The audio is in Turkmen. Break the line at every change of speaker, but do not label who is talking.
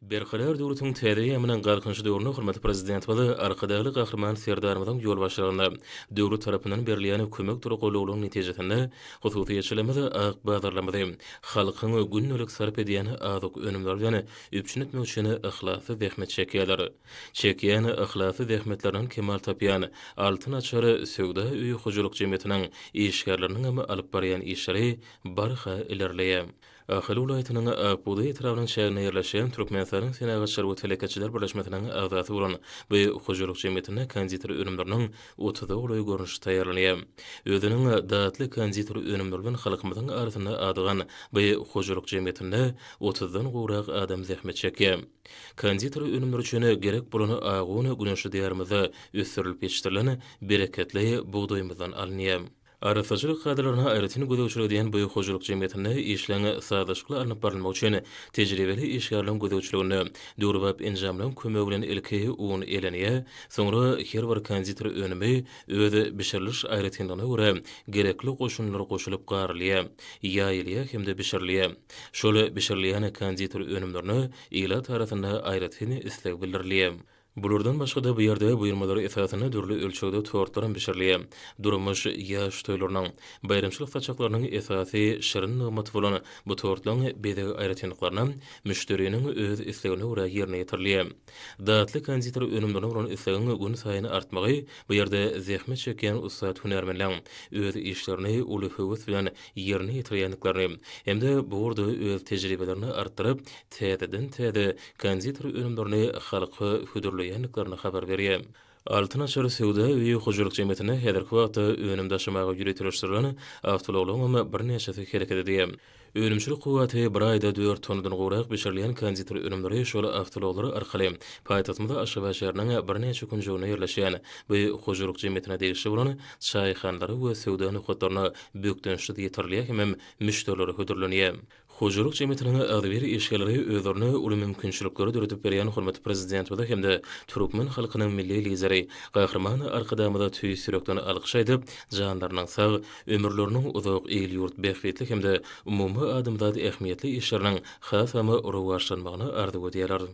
Berkarar döwletiň täze eýýamynyň Galkynyş döwründe hormatly Prezidentimiz Arkadagly Gahryman Serdarymyzyň ýolbaşçylygynda döwlet tarapyndan berilýän kömek tolgulylaryň netijesinde hususyýetçiligimiz ak bazarlarymyzy halkyň gündelik sarp edýän azyk önümleri bilen üpjün etmek üçin yhlasly zähmet çekýärler. Çekýän yhlasly zähmetlerinden kemal tapýan Altyn açar söwda öýi hojalyk jemgyýetiniň işgärleriniňem alyp barýan işleri barha ilerleýär. Ahal welaýatynyň Akbugdaý etrabynyň çäginde ýerleşýän Türkmenistanyň Senagatçylar we telekeçiler birleşmesiniň agzasy bolan bu hojalyk jemgyýetinde konditer önümleriniň otuza golaý görnüşi taýýarlanýar. Özüniň datly konditer önümleri bilen halkymyzyň arasynda adygan bu hojalyk jemgyýetinde otuzdan gowrak adam zähmet çekýär. Konditer önümleri üçin gerek bolan agy un güneşli Diýarymyzda ösdürilip ýetişdirilen bereketli bugdaýymyzdan alynýar. Arassaçylyk kadalaryna aýratyn gözegçilik edýän bu hojalyk jemgyýetinde işleň sazlaşykly alnyp barylmagy üçin tejribeli işgärleň gözegçiliginde döwrebap enjamlaň kömegi bilen ilki un eleniýär, soňra her bir konditer önümi öz bişiriliş aýratynlygyna görä gerekli goşundylar goşulyp garylýar, ýaýylýar hem-de bişirilýär. Şol bişirilýän konditer önümlerine ilat arasynda aýratyn isleg bildirilýär. Bulardan başga-da bu ýerde buýurmalar esasynda dürli ölçegde tortlaram bişirilýär. Durmuş, ýaş toýlarynyň, baýramçylyk saçaklarynyň esasy şirin nygmaty bolan bu tortlaň bezeg aýratynlyklaryna müşderiniň öz islegine görä ýerine ýetirilýär. Datly konditer önümlerine bolan islegiň günsaýyn artmagy bu ýerde zähmet çekýän ussat hünärmenleň öz işlerini uly höwes bilen ýerine ýetirýändiklerini hem-de bu ugurda öz tejribelerini artdyryp, täzeden-täze konditor önümlerini halka hödürleýändiklerini habar berýär. Altyn açar söwda öýi hojalyk jemgyýetine häzirki wagtda önüm daşamaga ýöriteleşdirilen awtoulaglaryňam birnäçesi hereket edýär. Önümçilik kuwwaty bir aýda dört tonnadan gowrak bişirilýän konditor önümleri şol awtoulaglar arkaly paýtagtymyz Aşgabat şäheriniň birnäçe künjeginde ýerleşýän bu hojalyk jemgyýetine degişli bolan çaýhanlara we söwda nokatlaryna bökdençsiz ýetirilýär hemem müşderilere hödürlenýär. Hojalyk jemgyýetiniň agzybir işgärleri özlerine uly mümkinçilikleri döredip berýän hormatly Prezidentimize hem-de türkmen halkynyň Milli Lideri Gahryman Arkadagymyza tüýs ýürekden alkyş aýdyp, janlarynyň sag, ömürleriniň uzak, il-ýurt bähbitli hem-de umumadamzat ähmiýetli işleriniň has-ham rowaçlanmagyny arzuw edýärler.